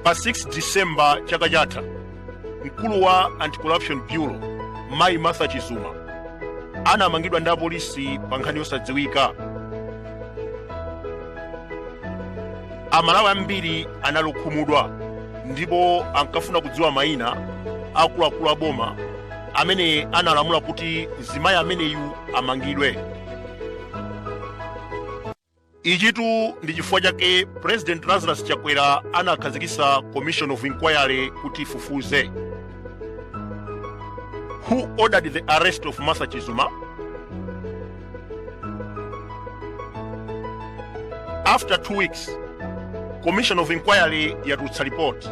pa 6 disemba chaka chatha mkulu wa anti-corruption bureau mayi martha chizuma anamangidwa ndi apolisi pa nkhani yosadziwika amalawi ambiri anali okhumudwa ndipo ankafuna kudziwa mayina a akuluakulu a boma amene analamula kuti mzimayi ameneyu amangidwe ichitu ndi chifukwa chake president lazarus chakwera anakhazikitsa commission of inquiry kuti ifufuze who ordered the arrest of martha chizuma after two weeks commission of inquiry yatulutsa report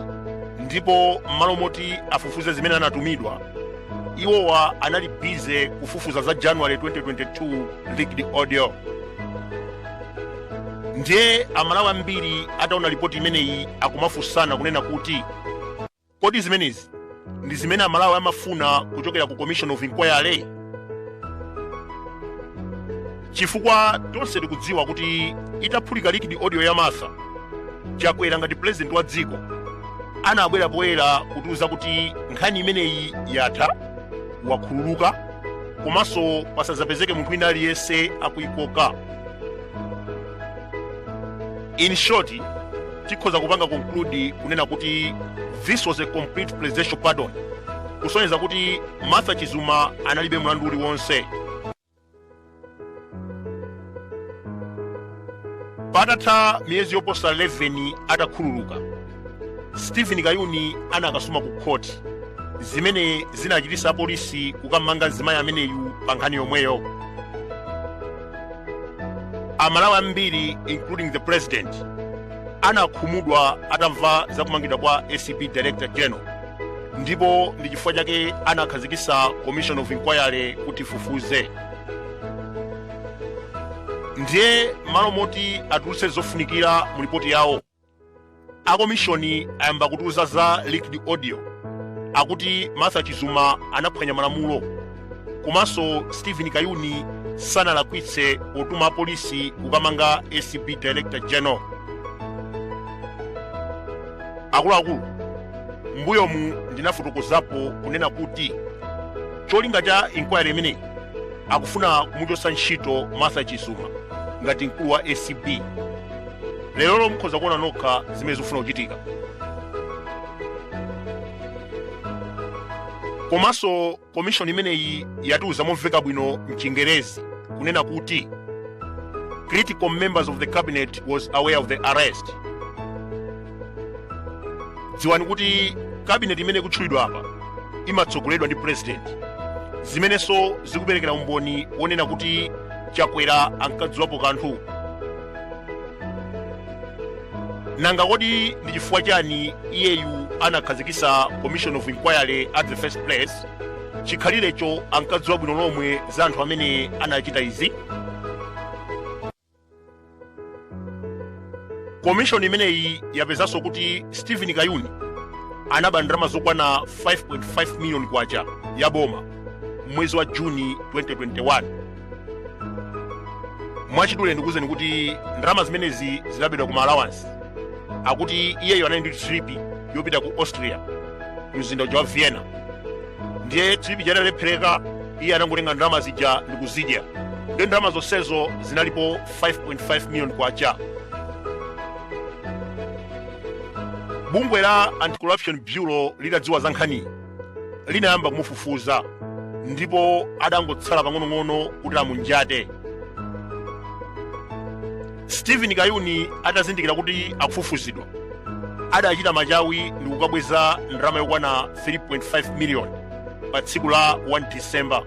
ndipo m'malo moti afufuze zimene anatumidwa iwowa anali busy kufufuza za january 2022 leaked audio ndiye amalawi ambiri ataona ripoti imeneyi akumafunsana kunena kuti Kodi zimenezi ndi zimene Amalawi amafuna kuchokera ku Commission of Inquiry? Chifukwa tonse tikudziwa kuti itaphulika leaked audio ya Martha, Chakwera ngati president wa dziko anabwera poyera kutiuza kuti nkhani imeneyi yatha, wakhululuka komanso pasadzapezeke munthu wina aliyense akuikoka. in short tikhoza kupanga conclude kunena kuti this was a complete presidential pardon kusonyeza kuti martha chizuma analibe mlandu uliwonse patatha miyezi yoposa 11 atakhululuka steven kayuni anakasuma ku khoti zimene zinachititsa apolisi kukamanga mzimayi ameneyu pa nkhani yomweyo amalawi ambiri including the president anakhumudwa atamva za kumangidwa kwa acb director general ndipo ndi chifukwa chake anakhazikitsa commission of inquiry kuti ifufuze ndiye m'malo moti atulutse zofunikira mu lipoti yawo a komishoni ayamba kutiuza za leaked audio akuti martha chizuma anaphwanya malamulo komanso steven kayuni sanalakwitse potuma apolisi kukamanga acb director general akuluakulu mbuyomu ndinafotokozapo kunena kuti cholinga cha inquiry imeneyi akufuna kumuchotsa ntchito martha chizuma ngati mkulu wa acb lerolo mukhoza kuona nokha zimene zikufuna kuchitika komanso komishoni imeneyi yatiuza momveka bwino mchingerezi kunena kuti critical members of the cabinet was aware of the arrest dziwani kuti cabinet imene ikutchulidwa apa imatsogoledwa ndi president zimenenso zikuperekera umboni wonena kuti chakwera ankadziwapo kanthu nanga kodi ndi chifukwa chani iyeyu anakhazikisa commission of inquiry at the first place chikhalirecho ankadziwa bwino lomwe za anthu amene anachita izi komishoni imeneyi yapezanso kuti stephen kayuni anaba ndalama zokwana 5.5 miliyoni kwacha ya boma mwezi wa juni 2021 mwachidule ndikuwuzeni kuti ndalama zimenezi zinabedwa kuma allowance akuti iyeyo anali ndi trip yopita ku austria mzinda uja wa vienna ndiye trip ija idalephereka iye anangotenga ndalama zija ndikuzidya ndiye ndalama zonsezo zinalipo 5.5 million kwacha bungwe la anti-corruption bureau litadziwa za nkhaniyi linayamba kumufufuza ndipo adangotsala pang'onong'ono kuti amunjate stephen kayuni atazindikira kuti akufufuzidwa adachita machawi ndi kukabweza ndalama yokwana 3.5 miliyoni pa tsiku la 1 december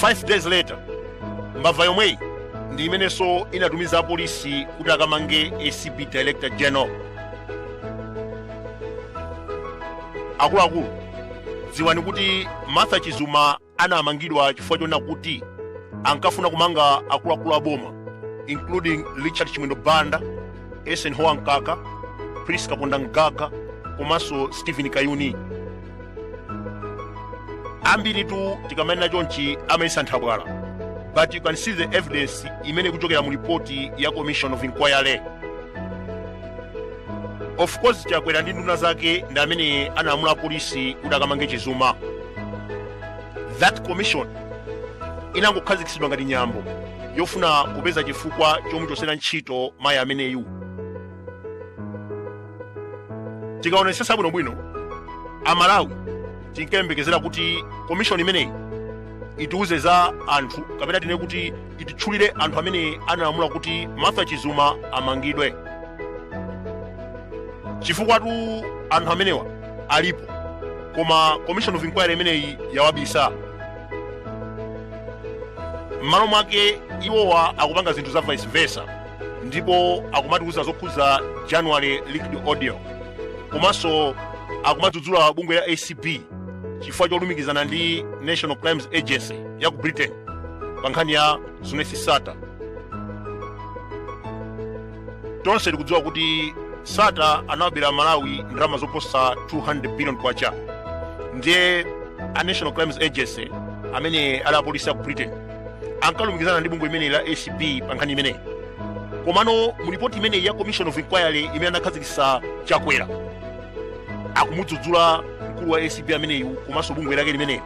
5 days later mbava yomweyi ndi imenenso inatumiza apolisi kuti akamange acb director general akuluakulu dziwani kuti martha chizuma anamangidwa chifukwa chonena kuti ankafuna kumanga akuluakulu a boma including richard chimwendo banda eisenhower mkaka prince kapondamgaga komanso stephen kayuni ambiritu tikamanena chonchi amayesa nthabwala but you can see the evidence imene ikuchokera mu ripoti ya commission of inquiry of course chakwera ndi nduna zake ndi amene analamula polisi kuti akamange chizuma that commission inangokhazikitsidwa ngati nyambo yofuna kupeza chifukwa chomuchosera ntchito mayi ameneyu tikaonesesa bwinobwino amalawi tinkayembekezera kuti komishoni imeneyi itiuze za anthu kapena tinene kuti ititchulire anthu amene analamula kuti martha chizuma amangidwe chifukwatu anthu amenewa alipo koma commission of inquiry imeneyi yawabisa m'malo mwake iwowa akupanga zinthu za vice versa ndipo akumatiuza zokhudza january leaked audio komanso akumadzudzula bungwe la acb chifukwa cholumikizana ndi national crimes agency ya ku britain pa nkhani ya zuneth sattar tonse tikudziwa kuti sattar anawabera malawi ndalama zoposa 200 billion kwacha ndiye a national crimes agency amene ali apolisi a ku britain ankalumikizana ndi bungwe limeneli la acb pa nkhani imeneyi komano mu ripoti imeneyi ya commission of inquiry imene anakhazikitsa chakwera akumudzudzula mkulu wa acb ameneyu komanso bungwe lake limeneli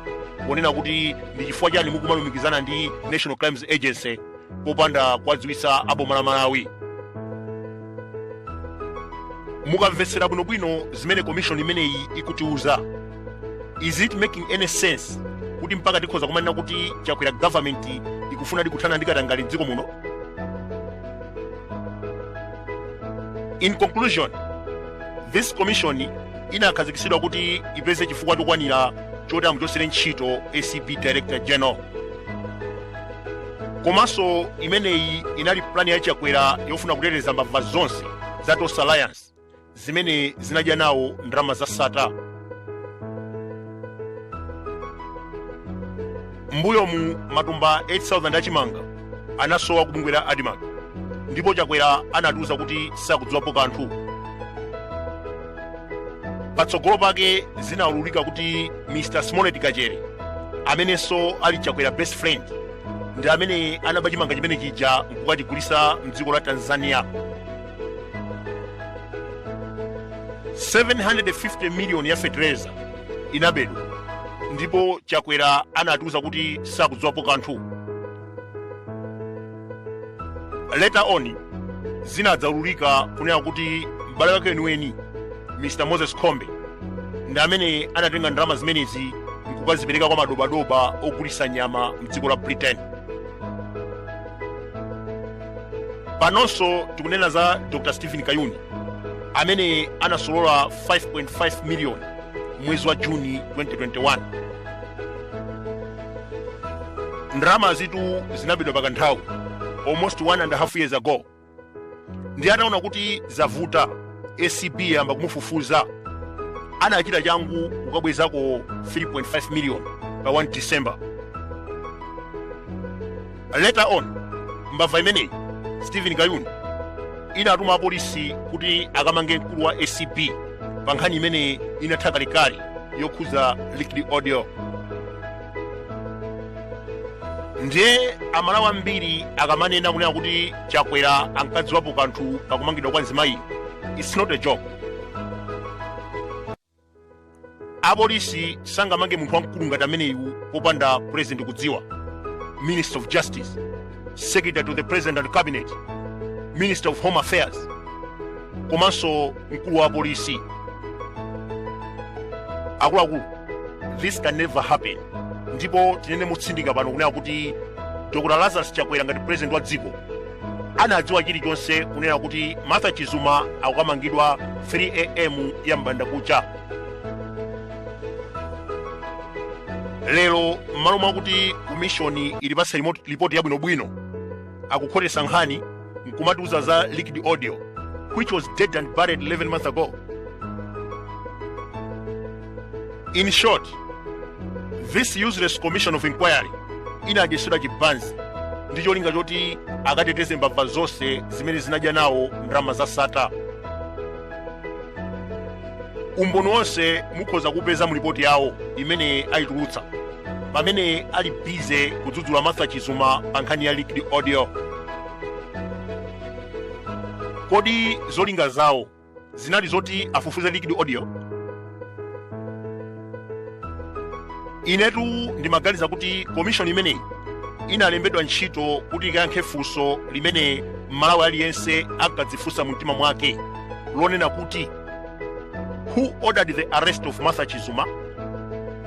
ponena kuti ndi chifukwa chani mukumalumikizana ndi national crimes agency popanda kuwadziwitsa aboma la malawi mukamvetsera bwinobwino zimene komishoni imeneyi ikutiuza is it making any sense kuti mpaka tikhoza kumanena kuti chakwera government ikufunadi kuthana ndi katangale mdziko muno in conclusion this commission inakhazikitsidwa kuti ipeze chifukwa chokwanira choti amuchosere ntchito acb director general komanso imeneyi inali plani ya chakwera yofuna kuteteza mbava zonse za tonse alliance zimene zinadya nawo ndalama za sattar mbuyomu matumba 8000 achimanga anasowa kubungwe la admarc ndipo chakwera anatiuza kuti sakudziwapo kanthu patsogolo pake zinaululika kuti mr smollet kachere amenenso ali chakwera best friend ndi amene anaba chimanga chimene chija nkukachigulisa mdziko la tanzania 750 miliyoni ya fetereza inabedwa ndipo chakwera anatiuza kuti sakudziwapo kanthu later on zinadzaululika kunena kuti m'bale wake weniweni mr moses kombe ndi amene anatenga ndalama zimenezi nkukazipereka kwa madobadoba ogulisa nyama mdziko la britain panonso tikunena za dr stephen kayuni amene anasolola 5.5 miliyoni mwezi wa juni 2021 ndalama izitu zinabedwa pa kanthawi almost one and a half years ago ndiye ataona kuti zavuta acb yayamba kumufufuza anachita changu kukabwezako 3.5 miliyoni pa 1 december Later on, mbava imeneyi Stephen Kayuni inatuma apolisi kuti akamange mkulu wa ACB pa nkhani imene inatha kalekale yokhudza leaked audio. Ndiye amalawi ambiri akamanena kunena kuti Chakwera ankadziwapo kanthu pakumangidwa kwa mzimayi, it's not a joke. apolisi sangamange munthu wamkulu ngati ameneyu popanda president kudziwa minister of justice secretary to the president and cabinet minister of home affairs komanso mkulu wa polisi akuluakulu this can never happen ndipo tinene motsindika pano kunena kuti dr lazarus chakwera ngati president wa dziko anadziwa chilichonse kunena kuti martha chizuma akukamangidwa 3 am ya m'bandakucha lero m'malo mwakuti komishoni itipatse lipoti yabwinobwino akukhotesa nkhani nkumatiuza za leaked audio which was dead and buried 11 months ago in short this useless commission of inquiry inadyetsedwa chibanzi ndi cholinga choti akateteze mbava zonse zimene zinadya nawo ndalama za Sattar umboni wonse mukhoza kupeza mu lipoti yawo imene ayitulutsa pamene ali bize kudzudzula martha chizuma pa nkhani ya leaked audio kodi zolinga zawo zinali zoti afufuze leaked audio inetu ndimaganiza kuti komishoni imeneyi inalembedwa ntchito kuti ikayankhe funso limene mmalawi aliyense ankadzifunsa mu mtima mwake lonena kuti who ordered the arrest of martha chizuma